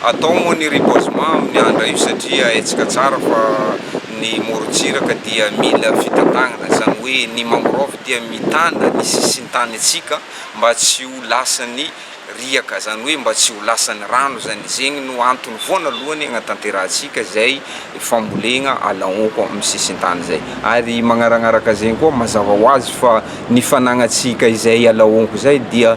Atao moa ny reboisement amin'ny andra io satria haintsika tsara fa ny morontsiraka dia mila fitantanana, izany hoe ny mangrove dia mitana ny sisintanintsika mba tsy ho lasan'ny riaka, izany hoe mba tsy ho lasan'ny rano izany, zegny no antony voanalohany agnatanterahantsika izay famolegna ala ôko amin'ny sisintany izay. Ary magnaragnaraka zegny koa mazava ho azy fa ny fanagnantsika izay ala ôko izay dia.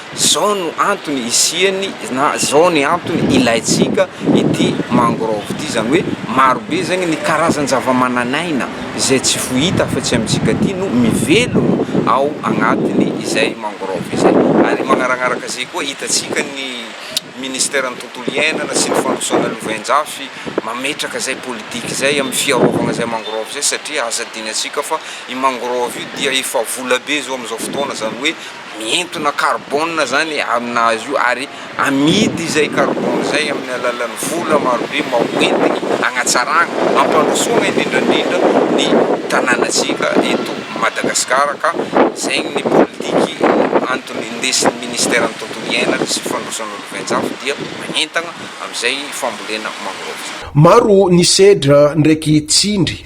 Zao no antony isiany na zao ny antony ilaintsika ity mangrove ity, izany hoe maro be zegny ny karazan-javamananaina izay tsy fohita afa-tsy amintsika aty no mivelogno ao agnatin'ny izay mangrove izay. Ary magnaragnaraka zay koa hitantsika ny ministeran'ny tontolo iainana sy ny fandrosoana lovain-jafy mametraka zay politiky zay amin'ny fiarovagna zay mangrove zay satria aza adinantsika fa i mangrove io dia efa vola be zao am'izao fotoana, izany hoe. Mihentona carbone izany aminazy io ary amidy izay carbone izay amin'ny alalan'ny vola marobe mba ho entiny hanatsarana, hampandrosoana indrindra indrindra ny tanànantsika eto Madagasikara ka izay ny politiky antony indesin'ny ministeran'ny tontolo iainana sy fandrosoan'olo ventsafo dia manentana amin'izay fambolena mangrove. Maro ny sedra ndraiky tsindry